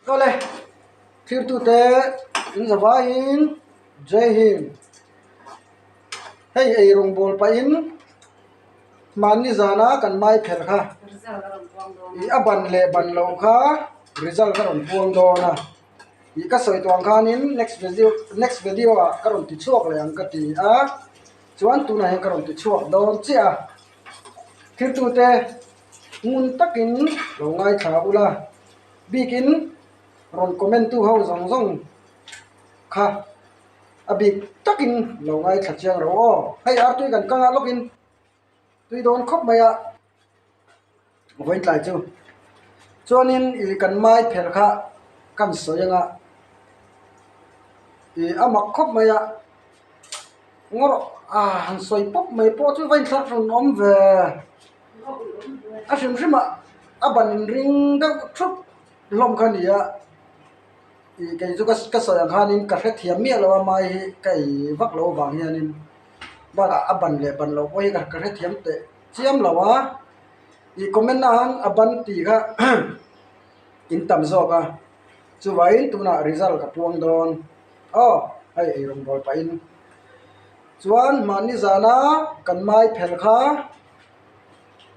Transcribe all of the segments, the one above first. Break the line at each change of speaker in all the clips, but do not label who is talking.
Tawle thirtute in zavaiin Jay Hind, Hei ei rawngbâwl pahin mahni zana kan maipher kha i a ban leh ban loh kha result ka rawn puang dawn a i ka sawi tuang khanin next next video ah ka rawn ti chhuak leh ang ka ti a chuan tunah hian ka rawn ti chhuak dawn chiah a thirtute ngun takin lo ngaithla ula. Bikin rawn comment tu ho zawng zawng kha a bik takin lo ngaithla chiang ro aw hei ar tui kan kang a lawk in tui dawn khawp mai a vawitlai chu chuan in ih kan mai pher kha kan sawi anga ih a mak khawp mai a ngaw rawh a han sawi pawp mai pawh chu vainthlar rawn awm ve. a hrim hrim ah a ban in ring deuh thup hlawm kha nia ih kei chu ka sawi ang khan ka hrethiam miah lo a mai hi ka ei vak lo vang hian in bawlah a ban leh ban loh pawh hi ka hrethiam teh chiam lo a ih comment ah han a ban tih kha in tam zawk a chuvai in tunah result ka puang dawn aw hei ei rawn bual pah in chuan mahni zana kan mai phelh kha.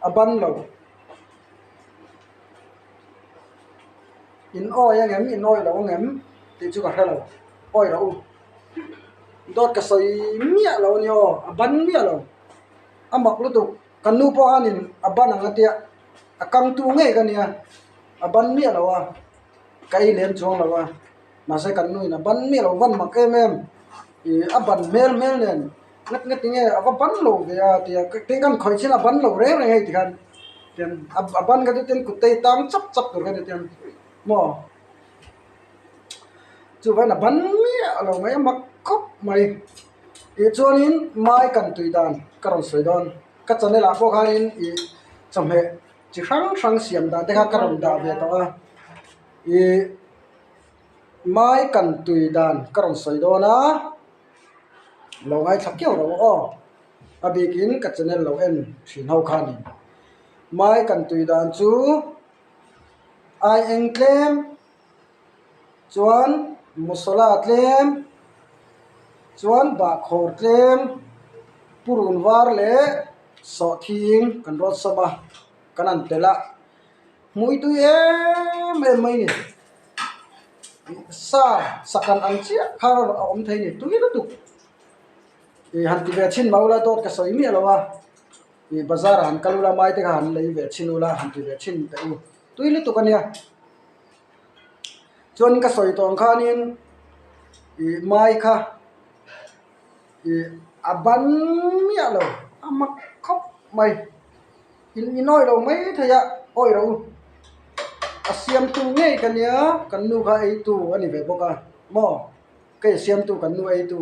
a ban lo in awi ang em in awilo ang em tih chu ka hre lo awi loh u dawt ka sawi miah loh a ni aw a ban miah lo a mak lutuk kan nu pawh hian in a ban ang atia a kang tu ngei ka nia a ban miah lo a ka ei lem chuang lo a mahse kan nu in a ban miah lo van mak em em ihh a ban hmel hmel nen. Ngat nge tinge a va ban lo ve a tia tin khan khawi chin a ban lo reng reng a ti khan tian a ban kha chu tin kuttii a tang chak chak tur ka ti chuan maw chuvain a ban miah lo mai a mak khawp mai tih chuanin mai kan tui dan ka rawn sawi dawn ka channel ah pawh khanin ih chawhmeh chi hrang hrang siam dan te khan ka rawn dah ve tawh a ih mai kan tui dan ka rawn sawi dawn a. Lo ngaithla kiau lo aw, a bikin ka channel lo en thin ho kha ni. Mai kan tui dan chu ai eng tlem chuan masala tlem chuan bahkhawr tlem purun var leh sawhthi kan rawt sawm a kan an telh a. Hmuitui em em mai ni. Sa sakhan ang chiah kha rawh a awm thei ni tui lutuk. Ih han ti ve chin mah ula dawt ka sawi miah lo a, ih bazar ah han kal ula maite kha han lei ve chin ula han ti ve chin teh u tui lutuk a nia. Chuan ka sawi tawng khanin ih mai kha ih a ban miah lo a mak khawp mai. In in awilo maithei a awilo a siamtu ngei ka nia kan nu kha eitu a ni ve bawk a maw kei siamtu kan nu eitu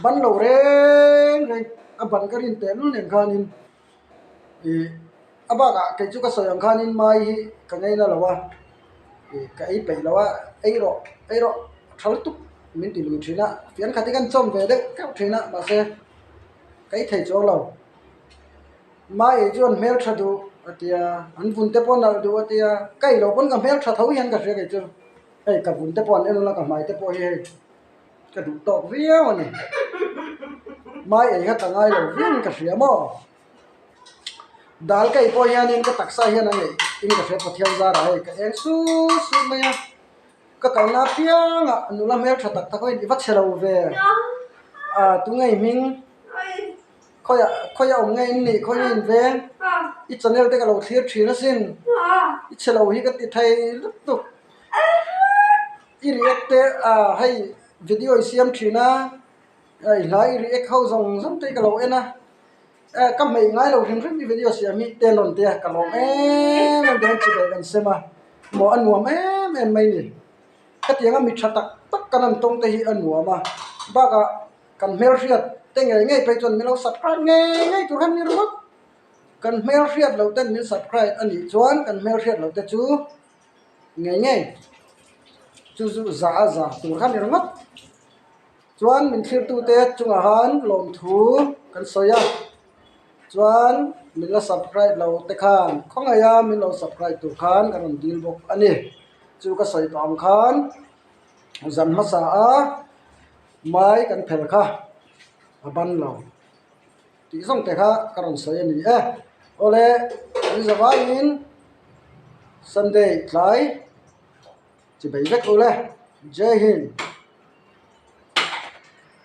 ban lo reng reng a ban ka rin pehlul nen khan in ih a bakah kei chu ka sawi ang khan in mai hi ka ngei nalo a ih ka ei peih lo a eirawh eirawh thal tuk min ti lui thin a fian khat hi ka inchawm ve deuh deuh thin a mahse ka i thei chuang lo. mahni chu an hmel tha duh a ti a an vun te pawh a nalh duh a ti a ka ih lo pawn ka hmel tha tho hian ka hria kei chu hei ka vun te pawh an en rawh la ka hmai te pawh hi hei ka duh tawk viau a ni hmai ei kha ka ngai lo viau in ka hria maw dal ka ih pawh hian in ka taksa ah hian a neih in ka hria Pathian zar ah hei ka eng sut sut mai a ka kal na apiang ah a nula hmel tha tak tak ho in i va chhe lo ve a tunge i hming. Khawiah khawi a awm ngei in nih khawi in veng i channel te ka lo thlir thin a sin i chhe lo hi ka ti thei lutuk i react te ah hei video i siam thin a i hlai i react ho zawng zawng te ka lo en a ka hmeih ngai lo hrim hrim i video siam hi tel awn tia ka lawm em em te chu kan sem a maw a nuam em em mai ni hetianga mi tha tak tak kan han tawng te hi a nuam a bakah. kan hmel hriat te ngei ngei phei chuan min lo subscribe ngei ngei tur han ni ringawt a kan hmel hriat loh ten min subscribe a nih chuan kan hmel hriat loh te chu ngei ngei chu chu zah a zah tur kha ni ringawt chuan min thlir tu te chungah han lawm thu kan sawi a chuan min la subscribe lo te khan khawngaih a min lo subscribe tur khan ka rawn dil bawk a ni chu ka sawi tawh ang khan zan hmasa a. Hmai kan phelh kha a ban lo tih zawng te kha ka rawn sawi a ni e. Awle an za vangin Sunday tlai chi bei vek ule. Jai Hind.